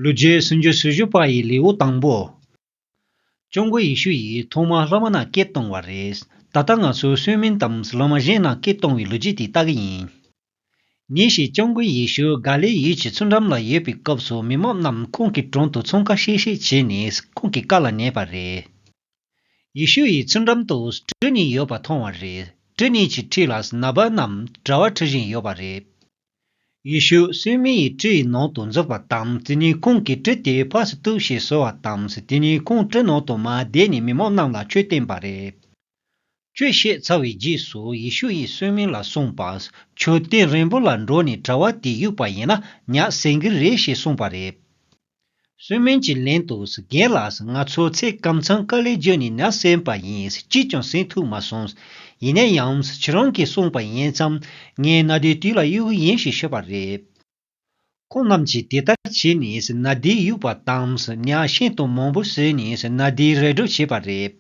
ལུས་རྒྱུད་སུམ་ཅུ་སོ་བཞི་པ་ཡི་ལེའུ་དང་པོ། ཀྱོ་མགོ་ཡེ་ཤུ་ཡིས་ཐོག་མ་བླ་མ་རྣམས་སྐད་གཏོང་བ་རེད། ད་ལྟ་ང་ཚོས་སུན་མིན་དང་བླ་མ་གཞན་རྣམས་སྐད་གཏོང་བའི་ལོ་རྒྱུས་དེ་ལྟ་གི་ཡིན། ཉིན་ཞིག་ཀྱོ་མགོ་ཡེ་ཤུ་ག་ལེ་ཡུལ་གྱི་ཚུར་འགྲམ་ལ་ཡོད་པའི་སྐབས་སུ་མི་མང་རྣམས་ཁོང་གི་དྲུང་དུ་ཚོང་ཁ་ཤེས་ཤེས་བྱས་ནས་ཁོང་གི་བཀའ་ལ་ཉན་པ་རེད། ཡེ་ཤུ་ཡིས་ཚུར་འགྲམ་དུ་སྤྲུལ་གཉིས་ཡོད་པ་མཐོང་བ་རེད། སྤྲུལ་གཉིས་ཀྱི་ཁྲིད་ལ་ན་བ་རྣམས་གྲྭ་བ་ཁྲིད་བཞིན་ཡོད་པ་རེད། ཡེ་ཤུ་སི་མི་ཡི་བཀྲི་ཡི་ནང་དུ་འཛུལ་བ་དང་དེ་གཉིས་ཁོང་གིས་བཀྲི་སྟེ་ཕར་སུ་གཏུགས་ཞེས་གསོལ་བ་དང་དེ་གཉིས་ཁོང་བཀྲི་ནང་དུ་མ་བསྡད་ནས་མི་མང་རྣམས་ལ་ཆོས་བསྟན་པ་རེད། ཆོས་བཤད་ཚར་བའི་རྗེས་སུ་ཡེ་ཤུ་ཡིས་སོན་མི་ལ་གསུངས་པ། ཁྱོད་སྟེང་རིང་པོ་ལ་འགྲོ་ནས་གྲྭ་བ་དེ་གཡུགས་པ་ཡིན་ན་ཉག་སེང་གི་རེད་ཞེས་གསུངས་པ་རེད། གསོལ་སྨན་གྱི་ལན་དུ་རྒན་ལགས་ང་ཚོ་ཚེ་སྐམ་ཚང་ཀ་ལས་རྒྱུ་ནས་ན་གསན་པ་ཡིན་ཅིས་ཀྱང་གསན་ཐུབ་མ་སོང། ཡིན་ན་ཡང་ཁྱེད་རང་གིས་གསུངས་པ་ཡིན་ཙམ་ངའི་ན་དའི་དུས་ལ་གཡོ་གི་ཡིན་ཞེས་ཤོད་པ་རེད། ཁོང་རྣམས་ཀྱིས་དེ་ལྟར་བྱས་ནས་ན་དའི་དབྱུག་པ་དང་གཉའ་ཤིང་དང་མང་པོ་བཟོས་ནས་ན་དའི་རལ་གྲོ་བྱས་པ་རེད།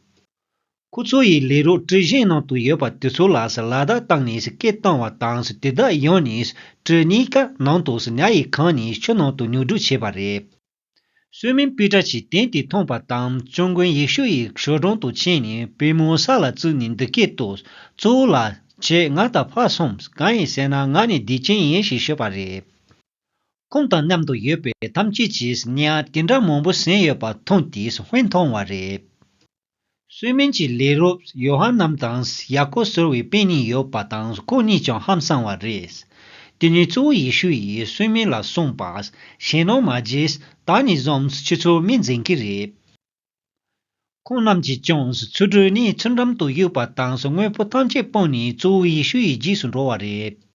ཁོ་ཚོ་ཡི་ལས་རོགས་གྲི་གཞན་ནང་དུ་ཡོད་པ་དེ་ཚོ་ལ་སི་ལ་དག་བཏང་ནས་སི་སྐད་བཏང་བ་དང་སི་དེ་དག་ཡོང་ནས་སི་གྲི་གཉིས་ཀ་ནང་དུ་སི་ཉྭ་ཡི་ཁང་ནས་ཆུ་ནང་དུ་ཉུག་འགྲོ་བྱས་པ་རེད། བསོད་མིན་པི་ཏྲ་ཆིས་དེང་དེ་མཐོང་པ་དང་བཙུན་མགོན་ཡེ་ཤུ་ཡི་ཞོ་སྒྲོང་དུ་ཕྱིན་ནས་བུས་མོའི་ས་ལ་བཙུད་ནས་འདི་སྐད་དུ། གཙོ་བོ་ལགས། ཁྱེད་ང་དང་ཕ་སོམས་གང་ཡིན་ཟེར་ན་ང་ནི་བདེ་ཆེན་ཡིན་ཞེས་ཤོད་པ་རེད། ཁོང་དང་མཉམ་དུ་ཡོད་པའི་ཐམས་ཅད་ཀྱིས་སི་ཉྭ་དེ་འདྲ་མང་པོ་ཟིན་ཡོད་པ་མཐོང་སྟེ་སི་བྷེ་མཐོང་བ་རེད། སུའི་མིན་གྱི་ལས་རོབས་ཡོ་ཧ་ནམ་དང་ཡ་ཀོ་ཟེར་བའི་དཔེ་གཉིས་ཡོད་པ་དང་ཁོ་གཉིས་ཀྱང་ཧམ་བསམ་བ་རེད། དེ་ནས་གཙོ་བོ་ཡེ་ཤུ་ཡིས་སུའི་མིན་ལ་གསུངས་པ། གཞན་ནོ་མ་རྗེས་ད་ནས་བཟུང་ཁྱོད་ཚོའི་མིང་འཛིན་གྱི་རེད། ཁོང་རྣམས་ཀྱིས་ཀྱང་ཚུར་བྲོས་ནས་ཚུར་འགྲམ་དུ་གཡུགས་པ་དང་དངོས་པོ་ཐམས་ཅད་སྤངས་ནས་གཙོ་བོ་ཡེ་ཤུ་ཡི་རྗེས་སུ་འགྲོ་བ་རེད།